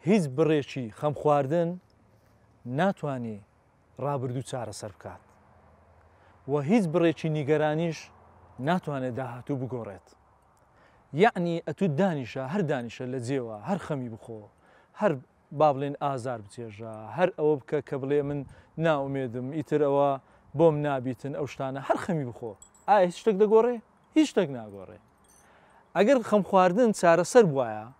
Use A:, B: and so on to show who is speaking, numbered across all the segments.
A: هیچ بڕێکی خەمخواردن ناتوانێ ڕابردوو چارەسەر بکات و هیچ بڕێکی نیگەرانیش ناتوانێت داهاتوو بگۆڕێت. یعنی ئەتوو دانیشە هەر دانیشە لە جێوە هەر خەمی بخۆ هەر با بڵێن ئازار بچێژە هەر ئەوە بکە کە بڵێ من ناومێدم ئیتر ئەوە بۆم نابیتن ئەو شتانە هەر خەمی بخۆ ئایا هیچ شتێک دەگۆڕێ هیچ شتێک ناگۆڕێ ئەگەر خەم خواردن چارەسەر بواە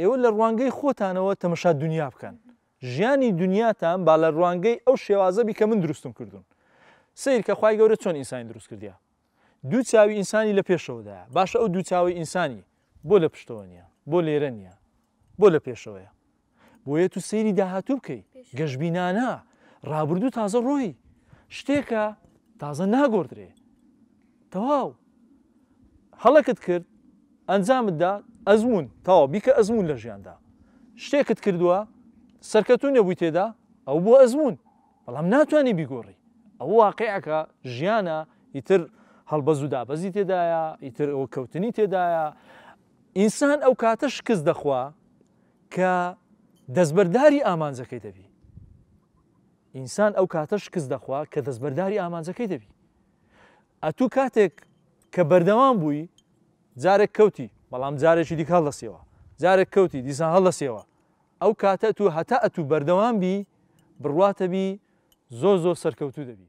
A: ئێوە لە ڕوانگەی خۆتانەوە تەمەشا دونیا بکەن، ژیانی دونیاتان با لە ڕوانگەی ئەو شێوازە بی کە من دروستم کردوون. سەیر کە خوای گەورە چۆن ئینسانی دروست کردیە. دوو چاوی ئینسانی لە پێشەوەدایە، باشە ئەو دوو چاوەی ئینسانی بۆ لە پشتەوە نیە؟ بۆ لێرە نیە؟ بۆ لە پێشەوەیە؟ بۆیە تو سەیری داهاتوو بکەی، گەشبینانە، ڕابردوو تازە ڕۆیی. شتێکە تازە ناگۆردرێ. تەواو هەڵەکت کرد ئەنجامت دا ئەزموون تەواو بیکە ئەزموون لە ژیاندا شتێکت کردووە سەرکەتوو نەبووی تێدا ئەو بۆ ئەزموون بەڵام ناتوانانی بیگۆڕی ئەو واقعەکە ژیانە ئیتر هەڵبەز و دابەزی تێدایە ئیتر ئەوە کەوتنی تێدایە ئینسان ئەو کاتە شکست دەخوا کە دەستبەرداری ئامانجەکەی دەبی ئینسان ئەو کاتە شکست دەخوا کە دەستبەرداری ئامانجەکەی دەبی ئەتوو کاتێک کە بەردەوام بووی جارێک کەوتی بەڵام جارێکی دیکە هەڵدەسیەوە جارێک کەوتی دیسان هەڵدەسیەوە ئەو کاتە تو هەتا ئەتوو بەردەوام بی بڕواتەبی زۆر زۆر سەرکەوتوو دەبی